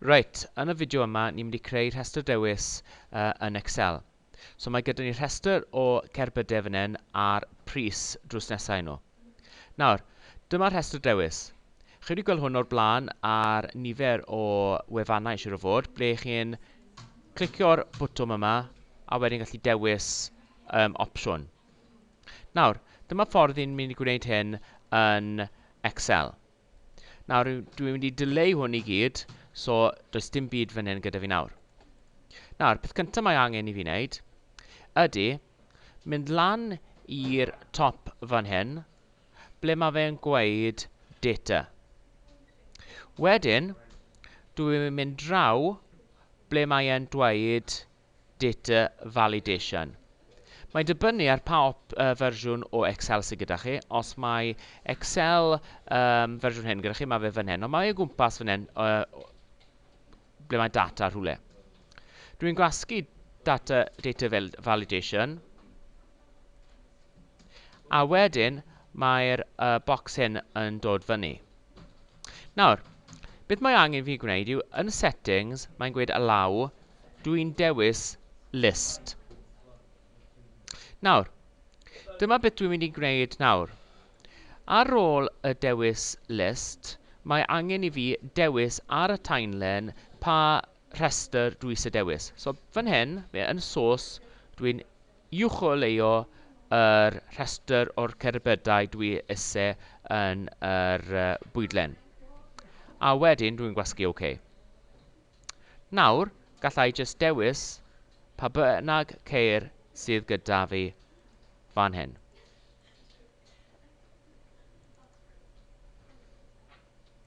Reit, yn y fideo yma, ni'n mynd i creu rhestr dewis uh, yn Excel. So mae gyda ni rhestr o cerbydau fan hyn a'r pris drws nesau nhw. Nawr, dyma'r rhestr dewis. Chi wedi gweld hwn o'r blaen ar nifer o wefannau eisiau o fod, ble chi'n clicio'r bwtwm yma a wedyn gallu dewis um, opsiwn. Nawr, dyma ffordd i'n mynd i gwneud hyn yn Excel. Nawr, dwi- dwi'n mynd i dileu hwn i gyd, so does dim byd fan hyn gyda fi nawr. Nawr, peth cyntaf mae angen i fi wneud ydy mynd lan i'r top fan hyn, ble mae fe'n gweud data. Wedyn, dwi'n mynd draw ble mae e'n dweud Data Validation. Mae'n dibynnu ar pa fersiwn o Excel sydd gyda chi. Os mae Excel um, fersiwn hyn gyda chi, mae fe fan hyn. Ond mae o gwmpas fan hyn, uh, ble mae data rhywle. Dwi'n gwasgu data, data validation. A wedyn, mae'r uh, box hyn yn dod fyny. Nawr, beth mae angen fi gwneud yw, yn settings, mae'n gweud allow, dw i'n dewis list. Nawr, dyma beth dwi'n mynd i gwneud nawr. Ar ôl y dewis list, mae angen i fi dewis ar y timeline pa rhestr dwi eisiau dewis. So fan hyn, yn source, dwi'n Uwcholeuo yr rhestr o'r cerbydau dwi isie yn yr bwydlen. A wedyn dwi'n gwasgu OK. Nawr, galla i jyst dewis pa bynnag ceir sydd gyda fi fan hyn.